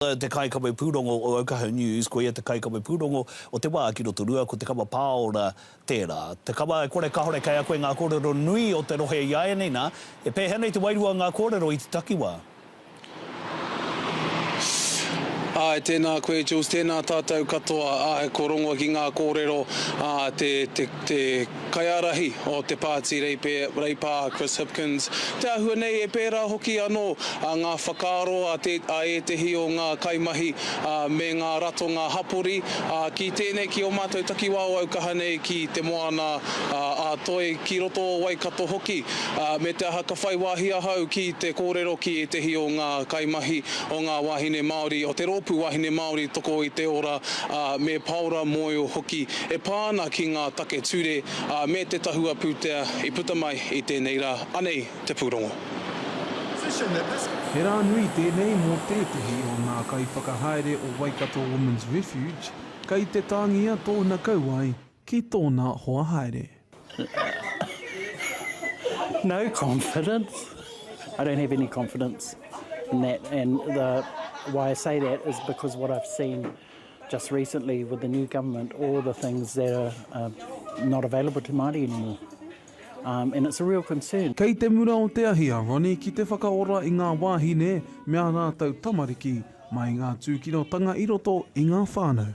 Te Kaikawe Pūrongo o Ōkahu News Ko ia te kaikawe pūrongo o te wā ki Rotorua, ko Te Kawa Pāora tērā. Te kawa e kore kāore kei ako i ngā kōrero nui o te rohe i āianei nā, he pēhea nei te wairua o ngā kōrero i te takiwā? Āe, tēnā koe Jules, tēnā tātou katoa, āe, ko Rongo ki ngā kōrero, ā, te, te, te. Kaiārahi o te Pāti Reipe, Reipā, Chris Hipkins, te āhua nei e pērā hoki anō ngā whakaaro a ētehi o ngā kaimahi me ngā ratonga hapori ki tēnei, ki ō mātou takiwā aukaha nei ki Te Moana a Toi, ki roto o Waikato hoki. Me te aha ka whai wāhi ahau ki te kōrero ki ētehi o ngā kaimahi, o ngā wāhine Māori, o te Rōpū Wāhine Māori Toko i te Ora, me Paora Moyo hoki e pā ana ki ngā take ture, ā, me te tahua pūtea i puta mai i tēnei rā, anei te pūrongo. He rā nui tēnei mō tētehi o ngā kaiwhakahaere o Waikato Women's Refuge, kei te tāngia tōna kauae ki tōna hoa haere. No confidence. I don't have any confidence in that and the why I say that is because what I've seen just recently with the new government, all the things that are uh, not available to Māori anymore. Um, and it's a real concern. Kei te mura o te ahi a Ronnie ki te whakaora i ngā wāhine me ā rātou tamariki mai ngā tūkinotanga i roto i ngā whānau.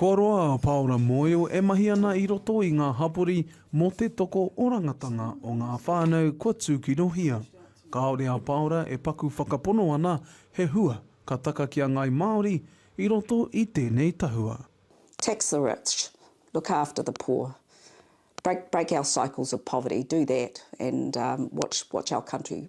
Kua roa a Paora Moio e mahi ana i roto i ngā hapori mō te toko orangatanga o ngā whānau kua tūkinohia. Kāore a Paora e paku whakapono ana he hua ka taka ki a Ngāi Māori i roto i tēnei tahua. Tax the rich, look after the poor, break break our cycles of poverty, do that and watch watch our country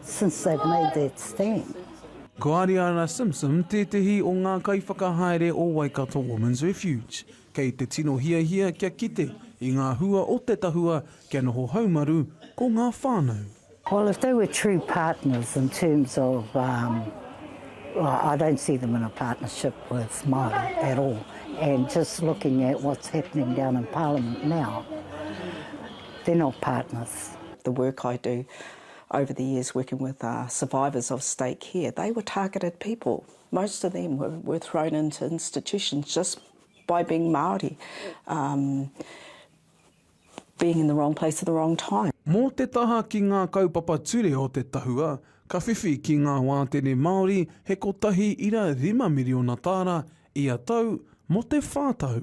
since they've made that stand. Ko Ariana Simpson tētehi o ngā kaiwhakahaere o Waikato Women's Refuge. Kei te tino hiahia kia kite i ngā hua o te tahua kia noho haumaru ko ngā whānau. Well if they were true partners in terms of um well I don't see them in a partnership with Māori at all and just looking at what's happening down in parliament now They're not partners. The work I do over the years working with survivors of state care, they were targeted people. Most of them were thrown into institutions just by being Māori, being in the wrong place at the wrong time. Mō te taha ki ngā kaupapa ture o te tahua, ka whiwhi ki ngā wātene Māori he 1,500,000 tāra ia tau mō te whā tau.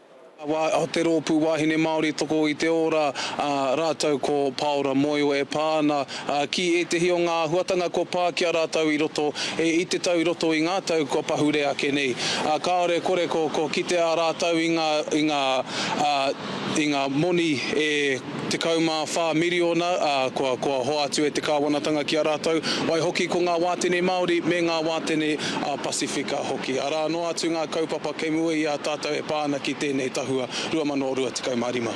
Te Rōpū Wāhine Māori Toko i te Ora, ā, rātou ko Pāora Moio e pā ana ki ētehi o ngā āhuatanga kua pā ki a rātou i roto i te tau i roto i ngā tau kua pahure ake nei. Kāore kore ko kitea rātou i ngā moni e 14 miriona, ā, kua, kua hoatu e te Kāwanatanga ki a rātou, waihoki ko ngā wātene Māori me ngā wātene a Pasifika hoki. Arā noa atu ngā kaupapa kei mua i a tātou e pā ana ki tēnei tahua 2025.